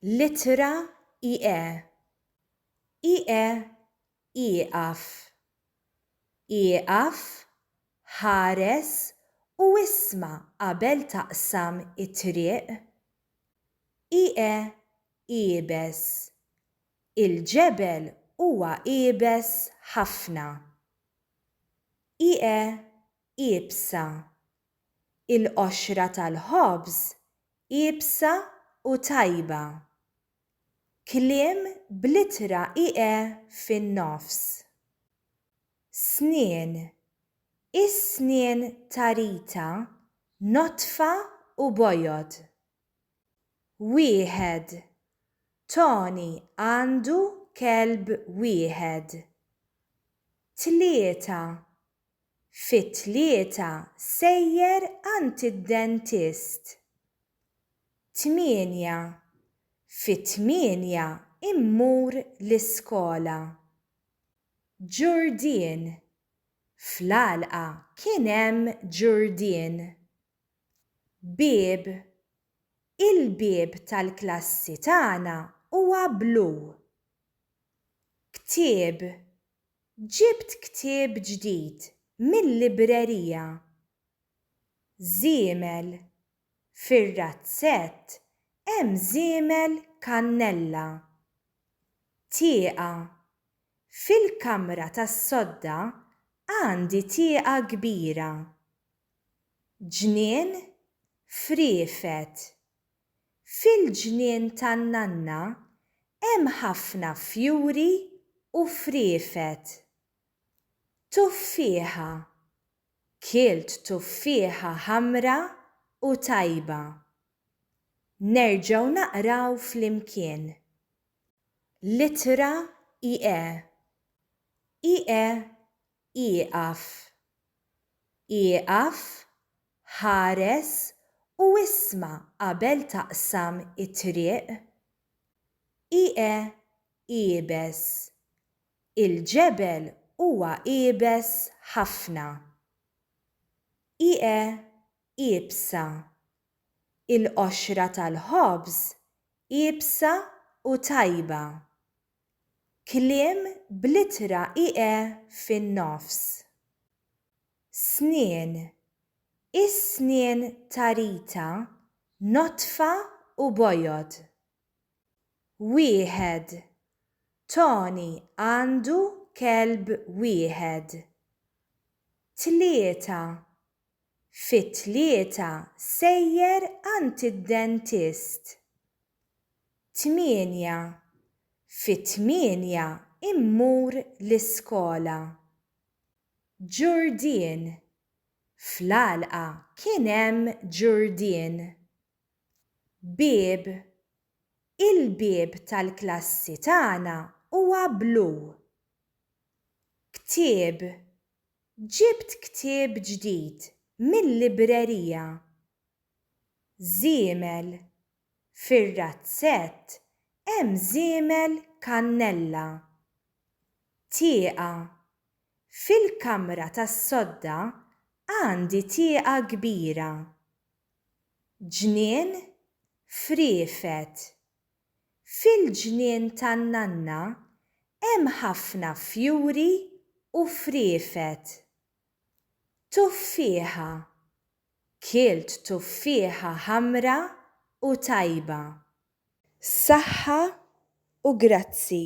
L-ittra ie. Ie ieqaf. Ieqaf, ħares u isma' qabel taqsam it-triq. Ie iebes. Il-ġebel huwa iebes ħafna. Ie iebsa, il-qoxra tal-ħobż iebsa u tajba. Kliem bl-ittra ie fin-nofs. Snien, is-snien ta' Rita nodfa u bojod. Wieħed, Toni għandu kelb wieħed. Tlieta, Fit-tlieta sejjer għand id-dentist. Tmienja, Fit-tmienja mmur l-iskola. Ġurdien, Fl-għalqa kien hemm ġurdien. Bieb, Il-bieb tal-klassi tagħna huwa blu. Ktieb, Ġibt ktieb ġdid mil-librerija. Żiemel, Fir-razzett hemm żiemel kannella. Tieqa, Fil-kamra tas-sodda għandi tieqa kbira. Ġnien, Friefet, Fil-ġnien tan-nanna hemm ħafna fjuri u friefet. Tuffieħa. Kielt tuffieħa ħamra u tajba. Nerġgħu naqraw flimkien. L-ittra ie. Ie ieqaf. Ieqaf, ħares u isma' qabel taqsam it-triq. Ieqe' iebes. Il-ġebel huwa iebes ħafna. Ieqe' iebsa. Il-qoxra tal-ħobż iebsa u tajba. Kliem bl-ittra ie fin-nofs. Snien, is-snien ta' Rita nodfa u bojod. Wieħed, Toni għandu kelb wieħed. Tlieta, Fit-tlieta sejjer għand id-dentist. Tmienja, Fit-tmienja mmur l-iskola. Ġurdien, Fl-għalqa kien hemm ġurdien. Bieb, Il-bieb tal-klassi tagħna huwa blu. Ktieb, Ġibt ktieb ġdid mil-librerija. Żiemel, Fir-razzett hemm żiemel kannella. Tieqa, Fil-kamra tas-sodda għandi tieqa kbira. Ġnien, Friefet, Fil-ġnien tan-nanna hemm ħafna fjuri u friefet. Tuffieħa. Kielt tuffieħa ħamra u tajba. Saħħa u grazzi.